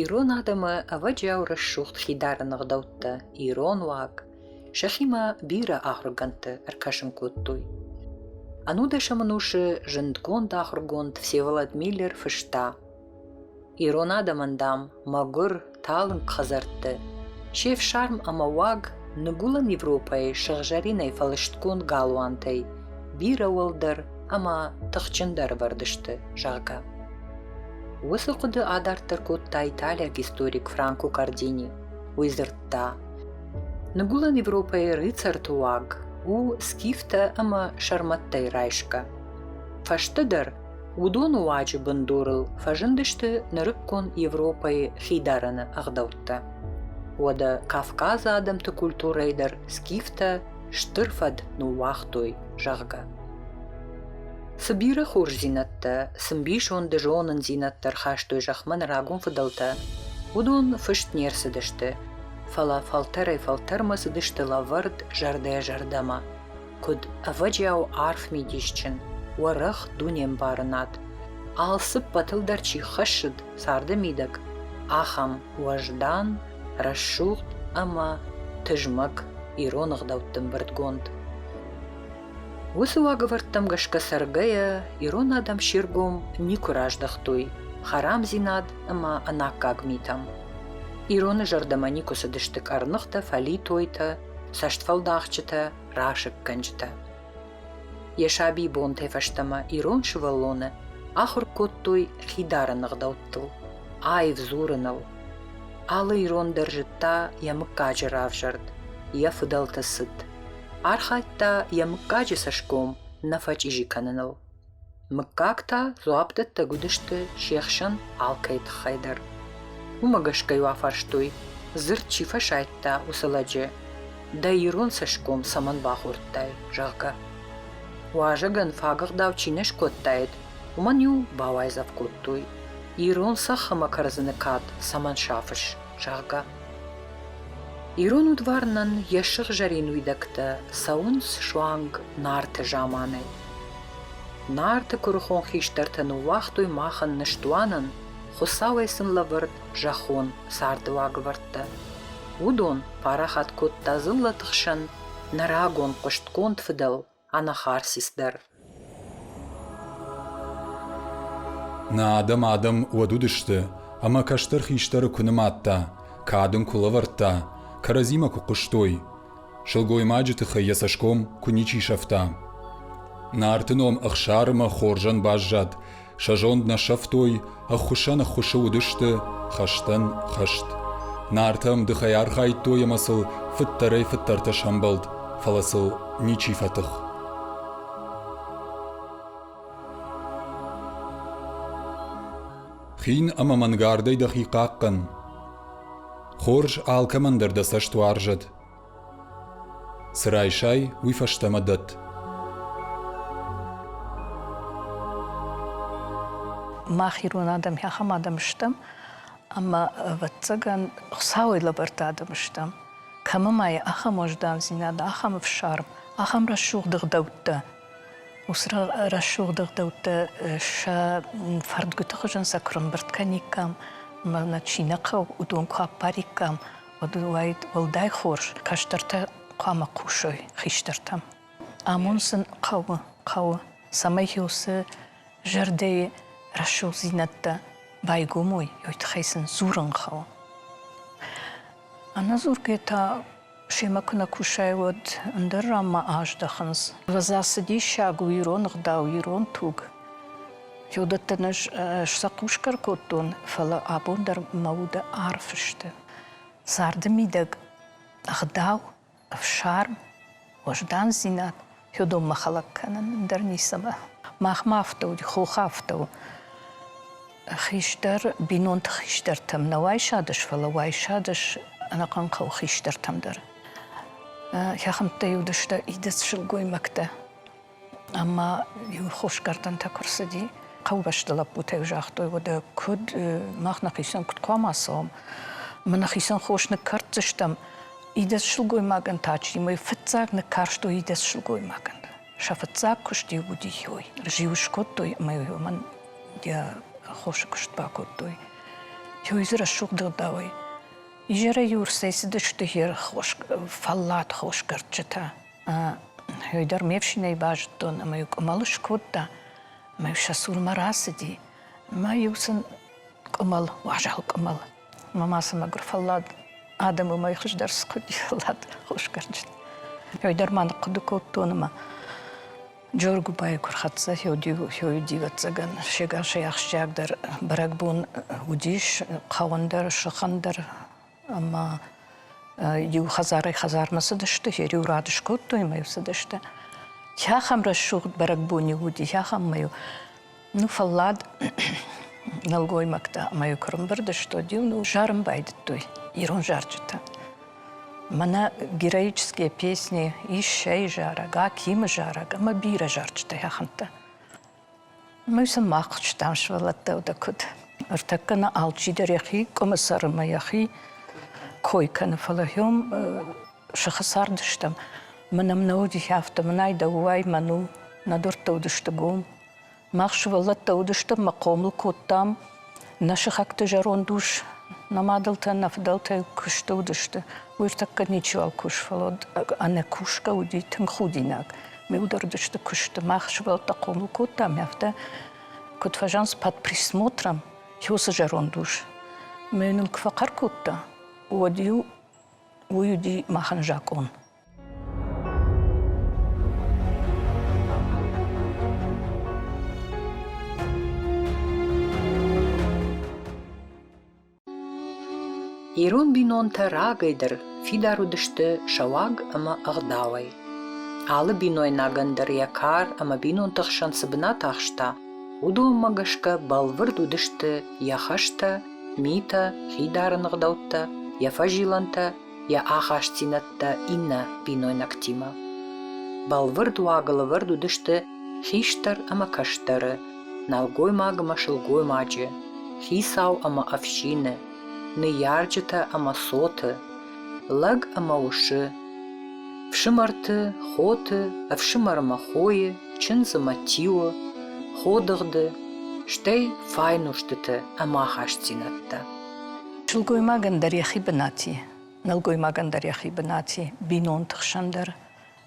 Ирон адӕмы, ӕвӕджиау рӕсугъд хидарыны ӕгъдӕуттӕ, ирон уаг, сӕхимӕ бирӕ ахуыргӕндты ӕркӕсын кодтой. Ӕнудӕсӕмӕн усы зындгонд ахуыргонд Всеволод Миллер фыста Ирон адӕмӕн, дам, мӕгуыр, талынг хӕдзӕртты, се фсарм ӕмӕ уаг Ныгуылӕн Европӕйы сыгъзӕринӕй фӕлыстгонд галуантӕй бирӕ уӕлдӕр ӕмӕ тыхджындӕр ӕвӕрдысты, зӕгъгӕ. Уыцы хъуыды адарддӕр кодта италиаг историк Франко Кардини. Уый дзырдта, Ныгуылӕн Европӕйы рыцарты уаг у скифтӕ ӕмӕ сӕрмӕттӕй райсгӕ. Фӕстӕдӕр уыдон уаджы бындурыл фӕзындысты нырыккон Европӕйы хидарӕны ӕгъдӕуттӕ. Уӕдӕ Кавказ адӕмты культурӕйы дӕр скифтӕ стыр фӕд ныууагътой, зӕгъгӕ. Цы бирӕ хорздзинӕдтӕ, цы мбисонды зонындзинӕдтӕ ӕрхастой зӕхмӕ нӕ рагон фыдӕлтӕ, уыдон фыст не рцыдысты, фӕлӕ фӕлтӕрӕй-фӕлтӕрмӕ цыдысты лӕвӕрд зӕрдӕ-зӕрдӕмӕ, куыд ӕвӕджиау арф мидисджын, уӕрӕх дунембарынад, алцыппӕтыл дӕр чи хӕссыд царды мидӕг, ахӕм уӕздан, рӕсугъд ӕмӕ тызмӕг ирон ӕгъдӕутты ӕмбырдгонд. Уыцы уагӕвӕрдтӕм гӕсгӕ цӕргӕйӕ ирон адӕм се ргом никуы раздӕхтой хӕрамдзинад ӕмӕ ӕнаккаг митӕм. Ироны зӕрдӕмӕ никуы цыдысты къӕрныхтӕ, фӕлитойтӕ, цӕстфӕлдахджытӕ, расыггӕнджытӕ. Йӕ сабибонтӕй фӕстӕмӕ ирон сывӕллоны ахуыр кодтой хидарын ӕгъдӕуттыл, аив дзурыныл. Алы ирон дӕр зыдта йӕ мыггаджы равзӕрд, йӕ фыдӕлты цыд. Архайдта йӕ мыггаджы цӕсгом нӕ фӕчъизи кӕныныл. Мыггаг та дзуапдӕттӕг уыдысты се хсӕн алкӕй тыххӕй дӕр. Уымӕ гӕсгӕ-иу афарстой, дзырд чи фӕсайдта, уыцы лӕджы, дӕ ирон цӕсгом цӕмӕн бахордтай, зӕгъгӕ. Уазӕгӕн фагыгъдау чи не скодтаид, уымӕн-иу бауайдзӕф кодтой, ирон цӕхх ӕмӕ кӕрдзыны кад цӕмӕн сафыс. зӕгъгӕ. Ирон удварнӕн йӕ сыгъзӕрин уидӕгтӕ цӕуынц суанг Нарты заманӕй. Нарты куырыхон хистӕртӕ ныууагътой махӕн ныстуанӕн Хуыцауӕй сын лӕвӕрд зӕххон царды уагӕвӕрдтӕ. Уыдон парахат кодта дзыллӕты хсӕн нӕ рагон хъуыстгонд фыдӕл Анахарсис дӕр. Нӕ адӕм адӕм уӕд уыдысты, ӕмӕ кӕстӕр хистӕры куы нымадта, кад ын куы лӕвӕрдта, кӕрӕдзимӕ куы хъуыстой, сылгоймаджы тыххӕй йӕ цӕсгом куы ничи сӕфта. Нарты ном Ӕхсар ӕмӕ Хорзӕн баззад, Сӕ зонд нӕ сӕфтой, ӕххуысӕн ӕххуысы уыдысты хӕстӕн хӕст. Нартӕ ӕмдыхӕй архайдтой ӕмӕ сыл фыддӕрӕй-фыддӕртӕ сӕмбӕлд, фӕлӕ сыл ничи фӕтых. Хин ӕмӕ мӕнгардӕй дӕхи хъахъхъӕн. Хорз алкӕмӕн дӕр дӕ цӕст уарзӕд. Цы райсай, уый фӕстӕмӕ дӕтт. Мах ирон адӕм ахӕм адӕм стӕм, ӕмӕ, ӕвӕццӕгӕн, Хуыцауӕй лӕвӕрд адӕм стӕм. Кӕмӕ ма и ахӕм уӕздандзинад, ахӕм ӕфсарм, ахӕм рӕсугъд ӕгъдӕуттӕ. Уыцы рӕсугъд ӕгъдӕуттӕ сӕ фӕрдгуыты хуызӕн сӕ куырымбырд кӕниккам, ӕмӕ нӕ чи нӕ хъӕуы, уыдон куы аппариккам, уӕд уаид уӕлдай хорз, кӕстӕртӕ хъуамӕ хъусой хистӕртӕм. Амон сын хъӕуы, хъӕуы, цӕмӕй-иу цы зӕрдӕйы рӕсугъддзинӕдтӕ байгомой, уый тыххӕй сын дзурын хъӕуы. Ӕнӕдзургӕ та семӕ куы нӕ кусай, уӕд ӕндӕр ранмӕ аздӕхынц. Ӕвӕдза, цы диссаг у ирон ӕгъдау, ирон туг! Уыдӕттӕ ӕз сӕхъусгӕ кодтон, фӕлӕ абон дӕр мӕ уды арф сты. Царды мидӕг ӕгъдау, ӕфсарм, уӕздандзинад Тёдоммӕ хӕлӕг кӕнын дӕр ницӕмӕ. Махмӕ афтӕ уыди, хохы афтӕ у. Хистӕр, бинонты хистӕртӕм нӕ уайсадыс, фӕлӕ уайсадыс ӕнӕхъӕн хъӕуы хистӕртӕм дӕр. Хӕхӕмттӕй уыдысты идӕдз сылгоймӕгтӕ. Ӕма иу хосгӕрдӕнтӕ куы рцыди, хъӕубӕсты лӕппутӕ загътой, уӕдӕ куыд мах нӕхицӕн куыд хъуамӕ цӕуӕм? Мы нӕхицӕн хос ныккӕрддзыстӕм. Идӕдз сылгоймагӕн та чи мӕй фыццаг ныккарстой идӕдз сылгоймагӕн. Сӕ фыццаг куыст-иу уыди хиой. Зиу скодтой ӕмӕ уымӕн йӕ хосы куыст бакодтой. Хиой дзы рӕсугъд ӕгъдауӕй. Изӕрӕй-иу ӕрцӕйцыдысты хе фӕллад хосгӕрдджытӕ. Йой дӕр ме фсинӕй базыдтон ӕмӕ-иу къуымӕл скодта, ӕмӕ-иу сӕ цурмӕ рацыди. Ӕмӕ-иу сын къуымӕл, уазал къуымӕл. Ӕмӕ ма цы мӕгуыр фӕллад адӕм уымӕй хуыздӕр скуыди фӕллад хосгӕрджыт. Йой дӕр ма ныхъхъуыды кодтон ӕмӕ Джоргуыбайы куы рхӕццӕ, Хёйы дивӕццӕгӕн се гасӕй ахсджиагдӕр бӕрӕгбон уыдис, хъӕуӕн дӕр, сыхӕн дӕр ӕмӕ иу хӕдзарӕй-хӕдзармӕ цыдысты, йӕ риу радыс кодтой ӕмӕ йыл цыдысты. Хӕхӕм рӕсугъд бӕрӕгбон-иу уыди, хӕхӕммӕ-иу ну фӕллад нӕлгоймӕгтӕ ӕмӕ-иу куы рымбырдысты, иу зарын байдыдтой ирон зарджытӕ. Мӕнӕ героические песни, ис сӕйы зарӕг, Акимы зарӕг ӕмӕ бирӕ зарджытӕ хӕхӕмттӕ. Уый сымах стӕм сывӕллӕттӕ дӕ куыд? Ӕртӕккӕ нӕ алчидӕр йӕхи къуымысӕр ӕмӕ йӕхи кой кӕны, фӕлӕ хьом сыхы цард стӕм. Мӕнӕм нӕ уыди афтӕ, мынӕй дӕ уай, мӕн у. Нӕ дуӕрттӕ уыдысты гом. Мах сывӕллӕттӕ уыдыстӕм мӕ хъомыл кодтам Нӕ сыхӕгты зӕронд ус, нӕ мадӕлтӕ, нӕ фыдӕлтӕ куы стыудысты, уый ртӕккӕ ничиуал куы сфӕлыд. Ӕнӕкусгӕ уыди тынг худинаг. Ме удырдысты куысты, мах сывӕллӕттӕ хъомыл кодтам, афтӕ куыд фӕзӕнц под присмотром иу цы зӕронд ус. Мӕ нын куы фӕхъӕр кодта, уӕд-иу уый уыди махӕн закъон. Ирон бинонтӕ рагӕйдӕр фидар уыдысты сӕ уаг ӕмӕ ӕгъдауӕй. Алы бинойнагӕн дӕр йӕ кар ӕмӕ бинонты хсӕн цы бынат ахста, уыдонмӕ гӕсгӕ бӕлвырд уыдысты йӕ хӕстӕ, митӕ, хидарын ӕгъдӕуттӕ, йӕ фӕзилӕнтӕ йӕ ахастдзинӕдтӕ иннӕ бинойнӕгтимӕ. Бӕлвырд уаг лӕвӕрд уыдысты хистӕр ӕмӕ кӕстӕры, нӕлгоймагмӕ сылгоймаджы, хицау ӕмӕ ӕфсины, ныййарджытӕ ӕмӕ цоты, лӕг ӕмӕ усы, фсымӕрты, хоты, ӕфсымӕрмӕ хойы, чындзымӕ тиуы, ходыгъды, стӕй файнустыты ӕмахастдзинӕдтӕ. Сылгоймагӕн дӕр йӕхи бынат и, нӕлгоймагӕн дӕр йӕхи бынат и, бинонты хсӕн дӕр,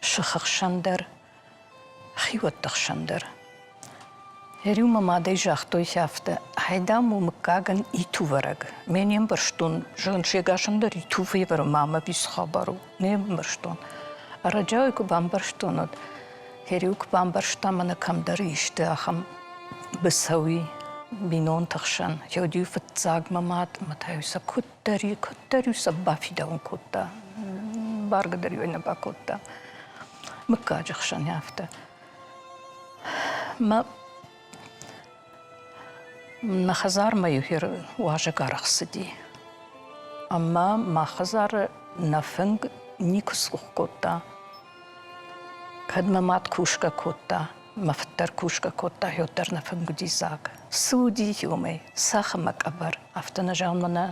сыхы хсӕн дӕр, хиуӕтты хсӕн дӕр. Йӕ риу мӕ мадӕй загътой афтӕ: Ай, дам, у мыггагӕн итувӕрӕг. Ме не мбӕрстон, зӕгъын, сегасӕн дӕр итувы ӕвӕры ма мӕ бис хабар у. Не мбӕрстон. Ӕрӕджиау куы бамбӕрстон, уӕд Кирилл куы бамбӕрста, мӕнӕ кӕмдӕр исты ахӕм быцӕуи бинонты хсӕн. Георгий фыццаг мӕ мад, мӕ та-иу сӕ куыддӕр, куыддӕр-иу сӕ бафидауын кодта. Бӕргӕ дӕр иу нӕ бакодта. Мыггаджы хсӕн афтӕ. Мӕ Мӕ хӕдзармӕ-иу хир уазӕг аргъ цыди. Ӕмӕ мӕ хӕдзары нӕ фынг никуы сцух кодта. Кӕд мӕ мад кусгӕ кодта, мӕ фыд дӕр кусгӕ кодта, уӕд дӕр нӕ фынг уыди дзаг. Цы уыди иумӕ, цӕхх ӕмӕ къӕбӕр. Афтӕ нӕ зӕгъынмӕ нӕ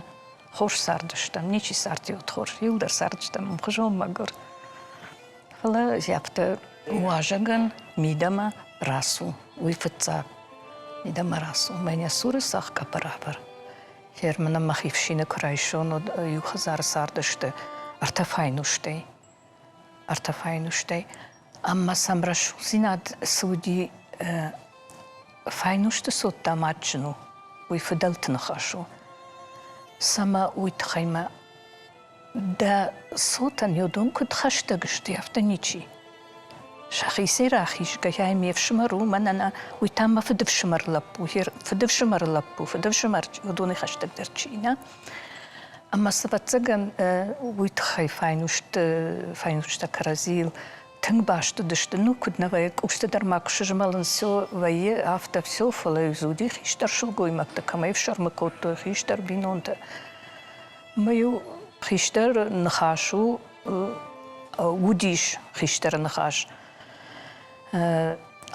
хорз цардыстӕм, ничи цард иуд хорз, иу дӕр цардыстӕм ӕмхуызон мӕгуыр. Фӕлӕ зӕпты уазӕгӕн мидӕмӕ рацу, уый фыццаг мидӕмӕ рацу. Мӕнӕ цуры цӕхгӕпы равӕр. Фермы нӕ мӕхи фсины куы райсон, уӕд иу хӕдзары цардысты ӕртӕ файнустӕй. Ӕртӕ файнустӕй. Ӕмӕ сӕм рӕсугъддзинад цы уыди, файнусты цот дам адджын у, уый фыдӕлты ныхас у. Цӕмӕ уый тыххӕй мӕ Дӕ цотӕн йӕ дон куыд хӕстӕг сты, афтӕ ничи. Сӕхицӕй рахизгӕйӕ ме фсымӕр у, мӕнӕн уый та мӕ фыдыфсымӕр лӕппу, фыдыфсымӕр лӕппу, фыдыфсымӕр уыдоны хӕстӕгдӕр чи нӕ. Ӕмӕ ӕвӕццӕгӕн уый тыххӕй файнуст файнустӕ кӕрӕдзийыл тынг баст уыдысты. Ну, куыд нӕ вӕййы, къусты дӕр ма куы сызмӕлын все вӕййы, афтӕ все, фӕлӕ дзы уыди хистӕр сылгоймӕгтӕ, кӕмӕй ӕфсӕрмы кодтой хистӕр бинонтӕ. Мыйу хистӕр ныхас у, уыдис хистӕры ныхас.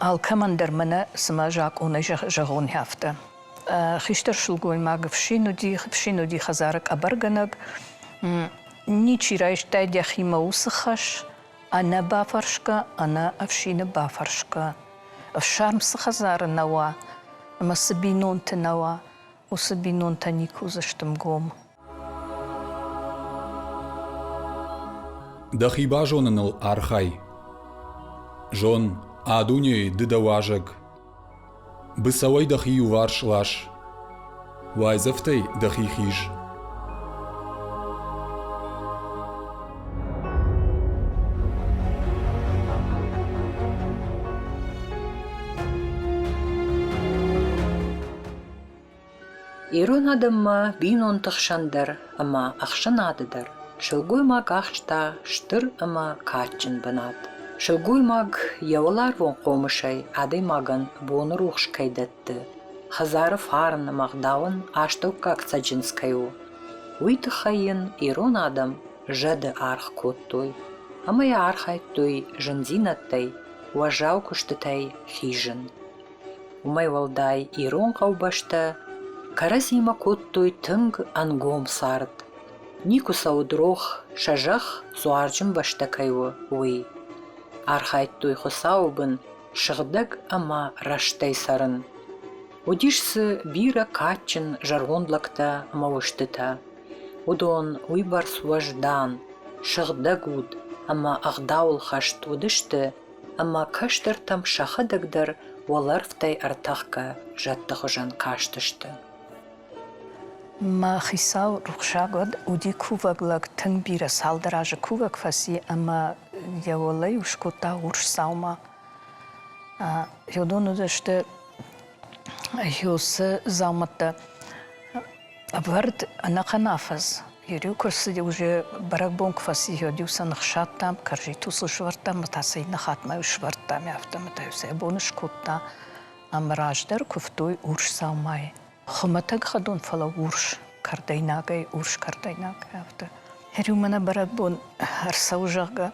Алкӕмӕн дӕр мӕнӕ цымӕ закъонӕй зӕгъон афтӕ. Хистӕр сылгоймаг фсин уыди, фсин уыди хӕдзары къӕбӕргӕнӕг, ничи райстай дӕхимӕ уыцы хӕс, ӕнӕ бафӕрсгӕ, ӕнӕ ӕфсины бафӕрсгӕ. Ӕфсарм цы хӕдзары нӕ уа, ӕмӕ цы бинонты нӕ уа, уыцы бинонтӕ никуы уыдзысты мгом. Дӕхи базоныныл архай. Зон, а дунейы ды дӕ уазӕг. Быцӕуӕй дӕхи иуварс лас. Уайдзӕфтӕй дӕхи хиз. Ирон адӕммӕ бинонты хсӕн дӕр ӕмӕ ӕхсӕнады дӕр сылгоймаг ахста стыр ӕмӕ кадджын бынат. Сылгоймаг йӕ уӕларвон хъомысӕй адӕймагӕн боны рухс кӕй дӕтты, хӕдзары фарн ӕмӕ ӕгъдауӕн астӕуккаг цӕджындз кӕй у, уый тыххӕй йын ирон адӕм зӕды аргъ кодтой ӕмӕ йӕ архайдтой зындзинӕдтӕй, уӕззау куыстытӕй хизын. Уымӕй уӕлдай ирон хъӕубӕстӕ кӕрӕдзимӕ кодтой тынг ӕнгом цард, никуы сӕ уыд рох, сӕ зӕхх дзуарджын бӕстӕ кӕй у, уый. Архайдтой Хуыцауы бын сыгъдӕг ӕмӕ рӕстӕй цӕрын. Уыдис дзы бирӕ кадджын зӕронд лӕгтӕ ӕмӕ устытӕ. Уыдон уыйбӕрц уӕздан, сыгъдӕг уд ӕмӕ ӕгъдауыл хӕст уыдысты, ӕмӕ кӕстӕртӕм сӕхӕдӕг дӕр уӕлӕрвтӕй ӕртӕхгӕ зӕдты хуызӕн кастысты. Мӕ хицау рухсаг уӕд уыди кувӕг лӕг, тынг бирӕ цалдӕр азы кувӕг фӕци ӕмӕ йӕ уӕлӕ-иу скодта урс дзаума. Йӕ дон уыдысты Хьосы дзаумӕттӕ. Ӕвӕрд ӕнӕхъӕн афӕдз. Ериу куы рцыди, уже бӕрӕгбон куы фӕци, йод-иу сӕ ныхсадтам, кӕрзитыл сыл сывӕрдтам, мы та сӕ иннӕ хатмӕ-иу сывӕрдтам, афтӕмӕй-иу сӕ бон скодта. Ӕмӕ раздӕр куывтой урс дзаумайы. Хуымӕтӕг хӕдон, фӕлӕ урс кӕрдӕйнагӕй, урс кӕрдӕйнаг, афтӕ. Ериумӕ нӕ бӕрӕгбон ӕрцӕуы, зӕгъгӕ,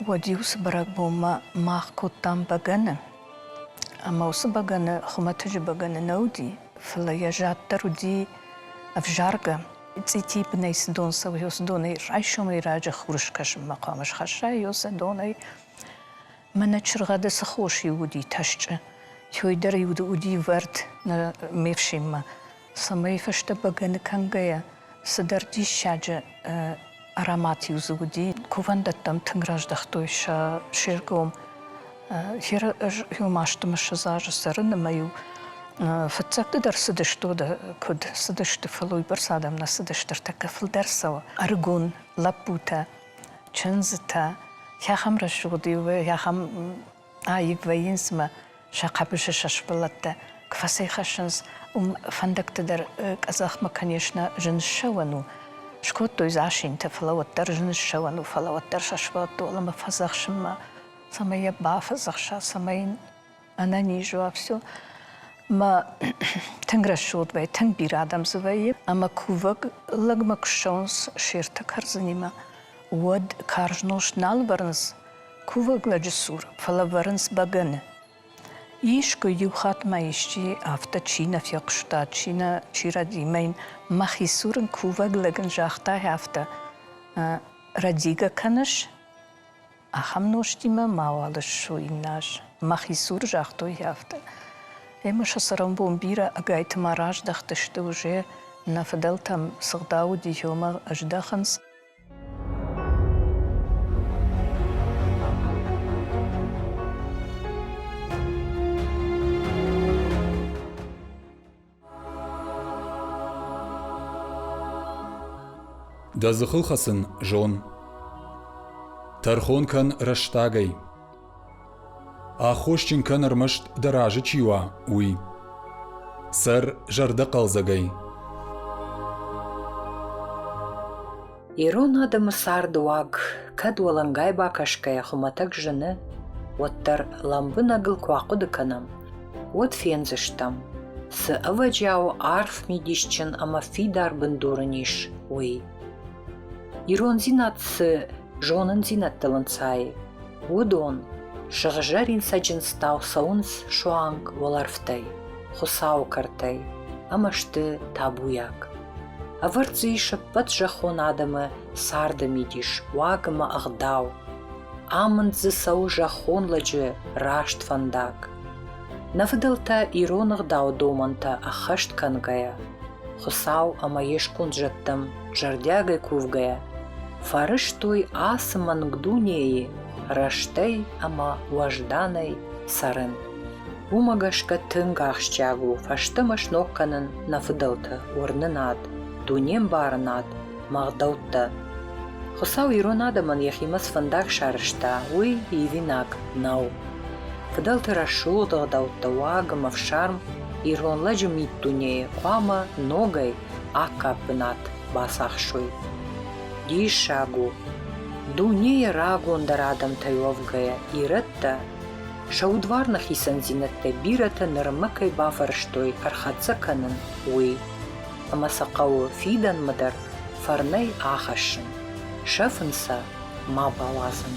уӕд-иу цы бӕрӕгбонмӕ мах кодтам бӕгӕны, Ӕмӕ уыцы бӕгӕны хуымӕтӕджы бӕгӕны нӕ уыди, фӕлӕ йӕ зӕд дӕр уыди ӕвзаргӕ. Цъити бынӕй цы дон цӕуы, ё цы донӕй райсомӕй раджы хур скӕсынмӕ хъуамӕ схӕсса, ё сӕ донӕй. Мӕнӕ чыргъӕды цы хос иу уыди тӕсчъы, той дӕр иу уыди ӕвӕрд ме фсинмӕ. цӕмӕй фӕстӕ бӕгӕны кӕнгӕйӕ цыдӕр диссаджы аромат-иу дзы уыди. Кувӕндӕттӕм тынг раздӕхтой сӕ се ргом. Хир-иу масты мысыз азы цӕрын ӕмӕ-иу фыццӕгты дӕр цыдысты уыдӕ куыд, цыдысты, фӕлӕ уыйбӕрц адӕм нӕ цыдысты, ӕртӕккӕ фылдӕр цӕуы ӕрыгон лӕппутӕ, чындзытӕ. Хӕхӕм рӕсугъд-иу ахӕм аив вӕййынц мӕ сӕ хъӕбысы сӕ сывӕллӕттӕ куы фӕцӕйхӕссынц, уым фӕндӕгты дӕр къӕдзӕхмӕ, конечно, зын ссӕуӕн у. Скодтой дзы асинтӕ, фӕлӕ уӕддӕр зын ссӕуӕн у, фӕлӕ уӕддӕр сӕ сывӕллӕтты уӕлӕмӕ фӕдзӕхсынмӕ, цӕмӕй йӕ бафӕдзӕхса, цӕмӕй йын ӕнӕниз уа, все. Мӕ тынг рӕсугъд вӕййы, тынг бирӕ адӕм дзы вӕййы, ӕмӕ кувӕг лӕгмӕ куы ссӕуынц се ртӕ кӕрдзынимӕ, уӕд карз нозт нал ӕвӕрынц, Кувӕг лӕджы цур фӕлӕвӕрынц бӕгӕны. Искуы-иу хатт ма исчи афтӕ чи нӕ фехъуыста, чи нӕ, чи рӕдимӕ йын мӕхи цур ын кувӕг лӕг ын загъта афтӕ, Рӕдигӕ кӕныс? Ахӕм нозтимӕ мауал ссу иннӕ аз. Мӕхи цур загътой афтӕ. Ӕмӕ сӕ цӕрӕнбон бирӕ ӕгайты ма раздӕхтысты, уже нӕ фыдӕлтӕм цы гъдау уыди, омӕ здӕхынц, Дӕ дзыхыл хӕцын зон. Тӕрхон кӕн рӕстагӕй. Аххосджын кӕн ӕрмӕст, дӕ разы чи уа, уый. Цӕр зӕрдӕхъӕлдзӕгӕй. Ирон адӕмы царды уаг кӕд уӕлӕнгай бакӕсгӕйӕ хуымӕтӕг зыны, уӕддӕр лӕмбынӕгыл куы ахъуыды кӕнӕм, уӕд фендзыстӕм, цы ӕвӕджиау арф мидисджын ӕмӕ фидар бындур ын ис, уый. Ирондзинад цы зонындзинӕдтыл ӕнцайы, Уыдон сыгъзӕрин цӕджындзтау цӕуынц суанг уӕлӕрвтӕй, Хуыцауы кӕртӕй ӕмӕ сты табуйаг. Ӕвӕрд дзы ис ӕппӕт зӕххон адӕмы царды мидис, уаг ӕмӕ ӕгъдау. Амынд дзы цӕуы зӕххон лӕджы раст фӕндаг. Нӕ фыдӕлтӕ ирон ӕгъдауы домӕнтӕ ӕххӕст кӕнгӕйӕ, Хуыцау ӕмӕ йе сконд зӕдтӕм зӕрдиагӕй кувгӕйӕ, фӕрӕзтой ацы мӕнг дунейы рӕстӕй ӕмӕ уӕзданӕй цӕрын. Уымӕ гӕсгӕ тынг ахсджиаг у фӕстӕмӕ сног кӕнын нӕ фыдӕлты уырнынад, дунембарынад, мгъдӕуттӕ. Хуыцау ирон адӕмӕн йӕхимӕ цы фӕндаг сарӕзта, уый ивинаг нӕу. Фыдӕлты рӕсугъд ӕгъдӕуттӕ, уагм, ӕфсарм ирон лӕджы миддунейы хъуамӕ ногӕй Аккаг бынат бацахсой. Диссаг у, дунейӕ рагондӕр адӕмтӕй уӕвгӕйӕ, ирӕттӕ сӕ удварны хицӕндзинӕдтӕй бирӕтӕ нырмӕ кӕй бафӕрӕзтой ӕрхӕццӕ кӕнын, уый. Ӕмӕ сӕ хъӕуы фидӕнмӕ дӕр фӕрнӕй ахӕссын, сӕфын сӕ ма бауадзын.